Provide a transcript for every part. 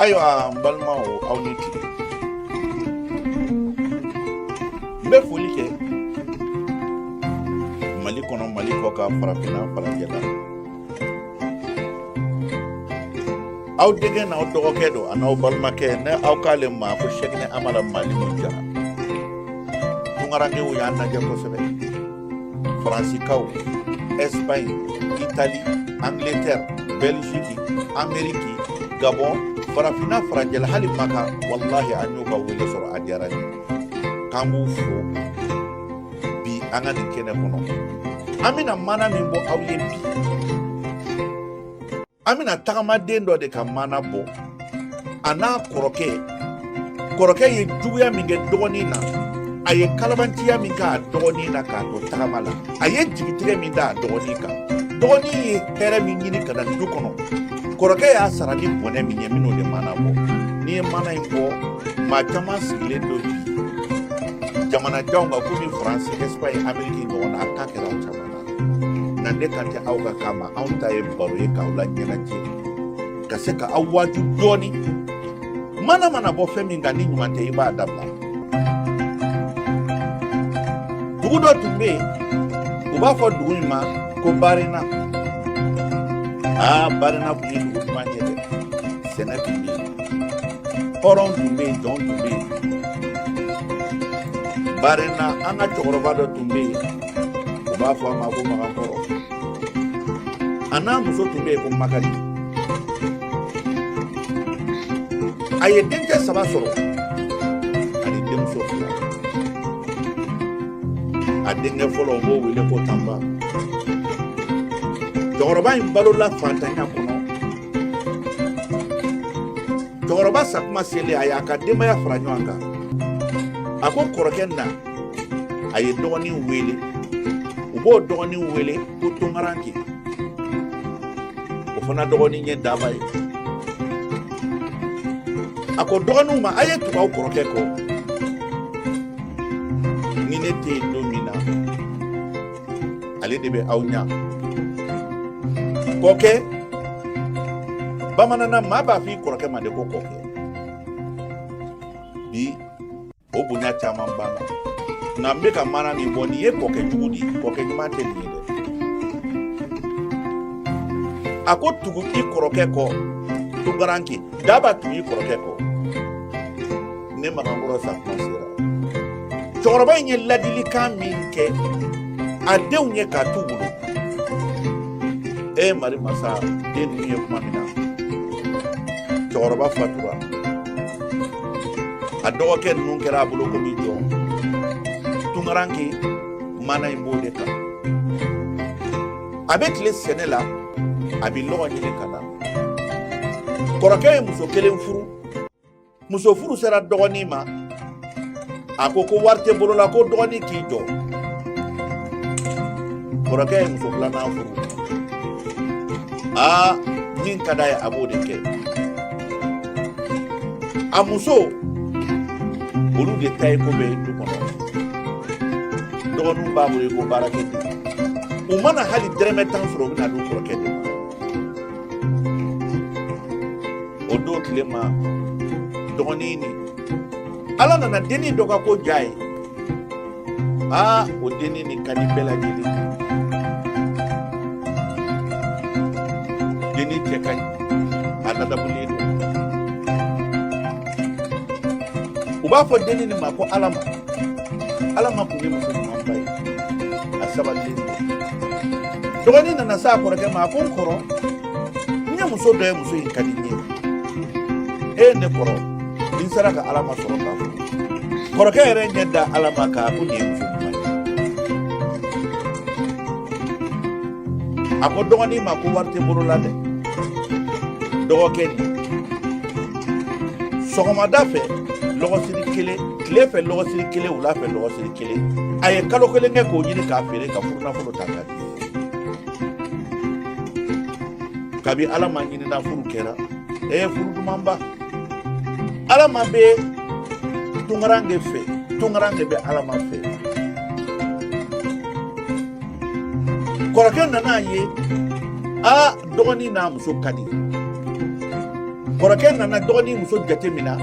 ayiwa n balimaw aw ni tile n bɛ foli kɛ mali kɔnɔ mali kɔkan farafinna farajɛla aw denkɛ n'aw dɔgɔkɛ don a n'aw balimakɛ ne aw k'ale ma ko sɛkinɛ amara mali mun jara tunkarankew y'a lajɛ kosɛbɛ Faransikanw, Espagne, Italie, Angleterre, Belgique, Amerique, Gabon, farafinna farajɛla hali Maka, walahi an y'u ka wele sɔrɔ a diyara n ye. K'an b'u fo bi an ka nin kɛnɛ kɔnɔ. An bɛna mana min bɔ aw ye bi, an bɛna tagamaden dɔ de ka mana bɔ a n'a kɔrɔkɛ kɔrɔkɛ ye juguya min kɛ dɔgɔnin na a ye kalabantiya min kɛ a dɔgɔnin na k'a to tagama la a ye jigitigɛ min da a dɔgɔnin kan dɔgɔnin ye hɛrɛ min ɲini ka na du kɔnɔ kɔrɔkɛ y'a sara ni bɔnɛ min ye minnu de mana bɔ n'i ye mana in bɔ maa caman sigilen don bi jamana janw kan komi faransi espagne ameriki ɲɔgɔn na a ka kɛra o caman nka ne kan tɛ aw ka kan ma anw ta ye baro ye k'aw laɲɛnajɛ ka se ka aw waaju dɔɔni mana mana bɔ fɛn min kan ni ɲuman tɛ i b'a dabila dugu dɔ tun bɛ yen u b'a fɔ dugu in ma ko barina aa barina tun ye dugu duman ye dɛ sɛnɛ tun bɛ yen hɔrɔn tun bɛ yen jɔn tun bɛ yen barina an ka cɛkɔrɔba dɔ tun bɛ yen u b'a fɔ a ma ko makan kɔrɔ a n'a muso tun bɛ yen ko makari a ye denkɛ saba sɔrɔ ani denmuso fila a denkɛ fɔlɔ u b'o wele ko tanba cɛkɔrɔba in balola fantanya kɔnɔ cɛkɔrɔba sakuma selen a y'a ka denbaya fara ɲɔgɔn kan a ko kɔrɔkɛ na a ye dɔgɔninw weele u b'o dɔgɔnin weele ko tunkarankɛ o fana dɔgɔnin ye daba ye a ko dɔgɔninw ma a ye tugu aw kɔrɔkɛ kɔ ni ne tɛ yen don min na ale de bɛ aw ɲa kɔkɛ bamananna maa b'a fɔ i kɔrɔkɛ ma de ko kɔkɛ bi o bonya caman b'an kan nka n bɛ ka maana min bɔ nin ye kɔkɛ jugu de ye kɔkɛ ɲuman tɛ nin ye dɛ a ko tugu i kɔrɔkɛ kɔ tunkaranke daba tugu i kɔrɔkɛ kɔ ne magankɔrɔ sa kuma sera cɛkɔrɔba in ye ladilikan min kɛ a denw ye k'a t'u bolo e mari masa den ninnu ye kuma min na cɛkɔrɔba fatura a dɔgɔkɛ ninnu kɛra a bolo komi jɔn tunkaranke maana in b'o de kan a bɛ tile sɛnɛ la a bɛ lɔgɔ ɲini ka na kɔrɔkɛ ye muso kelen furu muso furu sera dɔgɔnin ma a ko ko wari tɛ bolo la ko dɔgɔnin k'i jɔ kɔrɔkɛ ye muso filanan furu aa min ka d'a ye a b'o de kɛ a muso olu de ta ye ko bɛɛ du kɔnɔ dɔgɔninw b'a bolo i ko baarakɛden u mana hali dɛrɛmɛ tan sɔrɔ u bɛ n'a di u kɔrɔkɛ de ma o don tile ma dɔgɔnin nin ala nana dennin dɔ ka ko diy'a ye aa o dennin nin ka di bɛɛ lajɛlen ye dennin cɛ ka ɲi a ladamulen don u b'a fɔ dennin nin ma ko alama alama kun ye muso ɲumanba ye a sabatilen don dɔgɔnin nana s'a kɔrɔkɛ ma a ko n kɔrɔ ne ye muso dɔ ye muso in ka di ne ye e ne kɔrɔ ni n sera ka alama sɔrɔ k'a fɔ kɔrɔkɛ yɛrɛ ɲɛ da alama kan a ko nin ye muso ɲuman ye a ko dɔgɔnin ma ko wari tɛ bolo la dɛ dɔgɔkɛ nin sɔgɔmada fɛ lɔgɔsiri kelen tile fɛ lɔgɔsiri kelen wula fɛ lɔgɔsiri kelen a ye kalo kelen kɛ k'o ɲini k'a feere ka furunafolo ta k'a di kabi alama ɲinina furu kɛra ee furu dumanba alama bɛ tunkaranke fɛ tunkaranke bɛ alama fɛ kɔrɔkɛ nana a ye a dɔgɔnin n'a muso ka di kɔrɔkɛ nana dɔgɔnin muso jate min na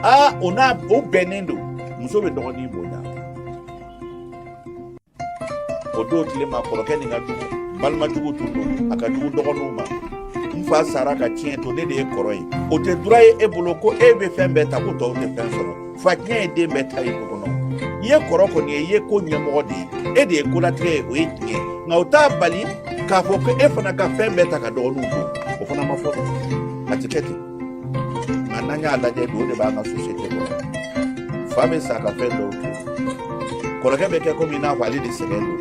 a o n'a o bɛnnen don muso bɛ dɔgɔnin bonya o don tile ma kɔrɔkɛ nin ka jugu balima jugu tun don a ka jugu dɔgɔninw ma n fa sara ka tiɲɛ to ne de ye kɔrɔ ye o tɛ droit ye e bolo ko e bɛ fɛn bɛɛ ta ko tɔw tɛ fɛn sɔrɔ fa tiɲɛ ye den bɛɛ ta ye du kɔnɔ i ye kɔrɔ kɔni ye i ye ko ɲɛmɔgɔ de ye e de ye kolatigɛ ye o ye tiɲɛ nka o t'a bali k'a fɔ ko e fana ka fɛn bɛɛ ta ka dɔgɔninw to o fana ma fɔ a tɛ kɛ ten a n'an y'a lajɛ bi o de b'an ka société kɔnɔ fa bɛ sa ka fɛn dɔw to kɔrɔkɛ bɛ kɛ komi i n'a fɔ ale de sɛgɛn don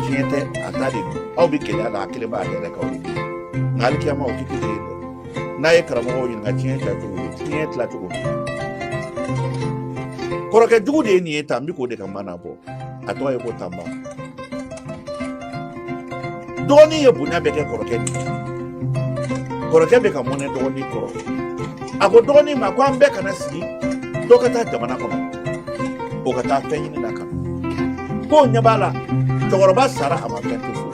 tiɲɛ tɛ a ta de don aw bɛ gɛlɛya la a kelen b'a yɛrɛ kaw de nka alikiyama o tɛ kelen ye dɛ n'a ye karamɔgɔw ɲininka tiɲɛ tila cogo ye tiɲɛ tila cogo kɔrɔkɛ jugu de ye nin ye tan n bɛ k'o de ka maana bɔ a tɔgɔ ye ko tanba dɔgɔnin ye bonya bɛɛ kɛ kɔrɔkɛ ni kɔrɔkɛ bɛ ka mɔnɛ dɔgɔnin kɔrɔ a ko dɔgɔnin ma ko an bɛɛ kana sigi dɔ ka taa jamana kɔnɔ o ka taa fɛn ɲini na kan ko ɲɛ b'a la cɛkɔrɔba sara a ma fɛn to so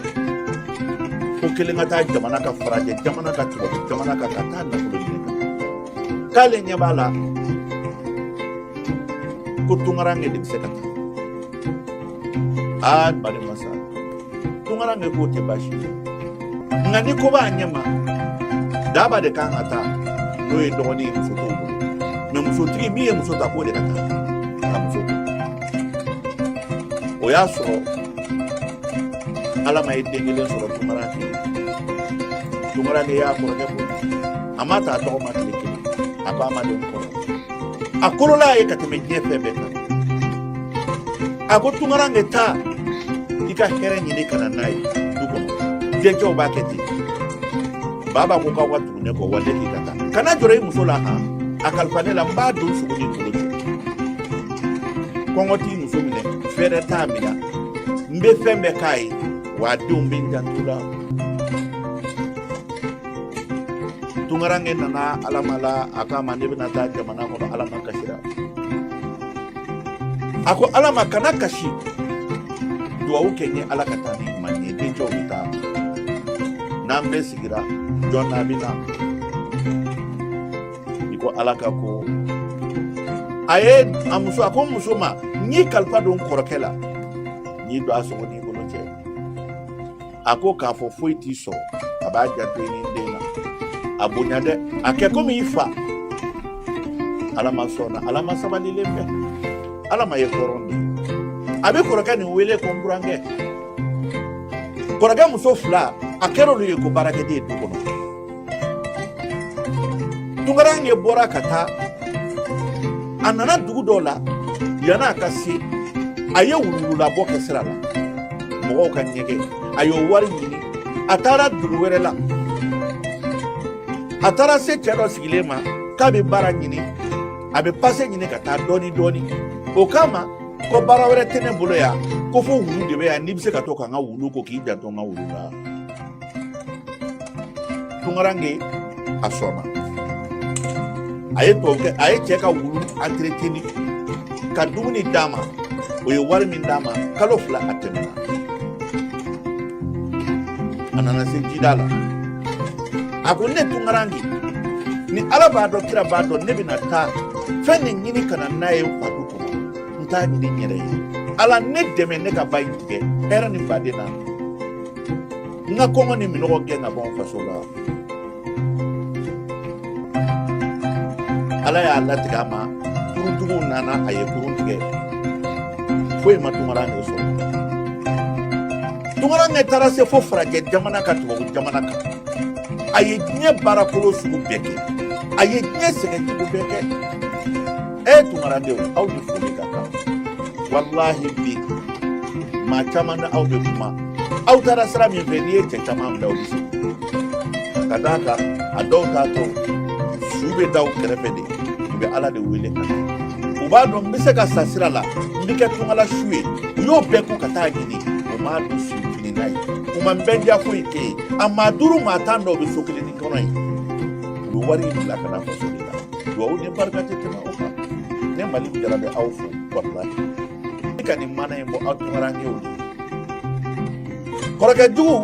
ko kelen ka taa jamana kan farajɛ jamana kan tubabu jamana kan ka taa nafolo k'ale ɲɛ b'a la ko tunkaranke de bɛ se ka taa aa balima sa tunkaranke k'o tɛ baasi ye nka ni ko b'a ɲɛ ma daba de kan ka taa n'o ye dɔgɔnin ye muso t'o bolo mɛ musotigi min ye muso ta k'o de ka taa ka muso to o y'a sɔrɔ alama ye den kelen sɔrɔ tunkaranke tunkaranke y'a kɔrɔkɛ bɔ a ma ta a tɔgɔ ma tile kelen a ko a ma den kɔrɔ a kolola a ye ka tɛmɛ diɲɛ fɛn bɛɛ kan a ko tunkaranke taa i ka hɛrɛ ɲini ka na n'a ye du kɔnɔ dencɛw b'a kɛ ten baba ko k'aw ka tugu ne kɔ wa ne k'i ka taa kana jɔrɔ i muso la han a kalifa ne la n b'a don sogo ni kolo cɛ kɔngɔ t'i muso minɛ fɛɛrɛ t'a minɛ n bɛ fɛn bɛɛ k'a ye wa a denw bɛ n janto u la tunkaranke nana alama la a k'a ma ne bɛna taa jamana kɔnɔ alama kasira a ko alama kana kasi duwawu kɛ n ye ala ka taa ni ɲuman ye dencɛw bɛ taa n'an bɛɛ sigira jɔn n'a bɛ na i ko ala ka ko a ye a muso a ko n muso ma n y'i kalifa don n kɔrɔkɛ la n y'i don a sogo ni a ko k'a fɔ foyi t'i sɔrɔ a b'a janto i ni den na a bonya dɛ a kɛ komi i fa alama sɔnna alama sabalilen fɛ alama ye hɔrɔn de a bɛ kɔrɔkɛ nin wele ko n burankɛ kɔrɔkɛ muso fila a kɛra olu ye ko baarakɛden du kɔnɔ tunkaranke bɔra ka taa a nana dugu dɔ la yanni a ka se a ye wuluwululabɔ kɛ sira la mɔgɔw ka ɲɛgɛn a y'o wari ɲini a taara dugu wɛrɛ la a taara se cɛ dɔ sigilen ma k'a bɛ baara ɲini a bɛ pase ɲini ka taa dɔɔni dɔɔni o k'a ma ko baara wɛrɛ tɛ ne bolo yan ko fo wulu de bɛ yan n'i bɛ se ka to ka n ka wulu ko k'i janto n ka wulu la tunkaranke a sɔnna a ye tubabu kɛ a ye cɛ ka wulu antɛrɛtɛni ka dumuni d'a ma o ye wari min d'a ma kalo fila a tɛmɛna a nana se jida la a ko ne tunkaranke nin ala b'a dɔn kira b'a dɔn ne bɛna taa fɛn nin ɲini ka na n'a ye n fa du kɔnɔ n t'a ɲini n yɛrɛ ye ala ne dɛmɛ ne ka ba in tigɛ hɛrɛ ni baden na n ka kɔngɔ ni minɔgɔ gɛn ka bɔ n faso la ala y'a latigɛ a ma kuruntigiw nana a ye kurun tigɛ foyi ma tunkaranke sɔrɔ tunkaranke taara se fo farajɛ jamana kan tubabu jamana kan a ye diɲɛ baarakolo sugu bɛɛ kɛ a ye diɲɛ sɛgɛn sugu bɛɛ kɛ e tunkaradenw aw ni foli ka kan walahi bi maa caman na aw bɛ kuma aw taara sira min fɛ n'i ye cɛ caman bila u bɛ se ka d'a kan a dɔw t'a to su bɛ da u kɛrɛfɛ de u bɛ ala de wele ka na u b'a dɔn n bɛ se ka sa sira la n bɛ kɛ tunka la su ye u y'o bɛɛ kɔ ka taa ɲini u m'a don su fini n'a ye u ma n bɛ n diya foyi kɛ yen a maa duuru maa tan dɔw bɛ so kelennin kɔnɔ yen u bɛ wari in bila ka na faso de la dugawu ni barika tɛ tɛmɛ o kan ne maliki jara bɛ aw fo walahi ne ka nin maana in bɔ aw tunkarankew de kɔrɔkɛ jugu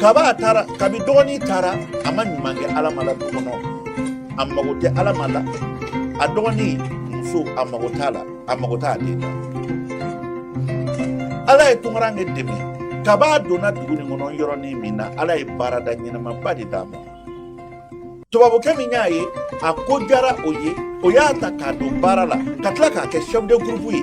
kab'a taara kabi dɔgɔnin taara a ma ɲuman kɛ alama la du kɔnɔ a mago tɛ alama la a dɔgɔnin muso a mago t'a la a mago t'a den na ala ye tunkaranke dɛmɛ kab'a donna dugu nin kɔnɔ yɔrɔnin min na ala ye baarada ɲɛnamaba de d'a ma tubabukɛ min y'a ye a ko diyara o ye o y'a ta k'a don baara la ka tila k'a kɛ sɛfu de gurupu ye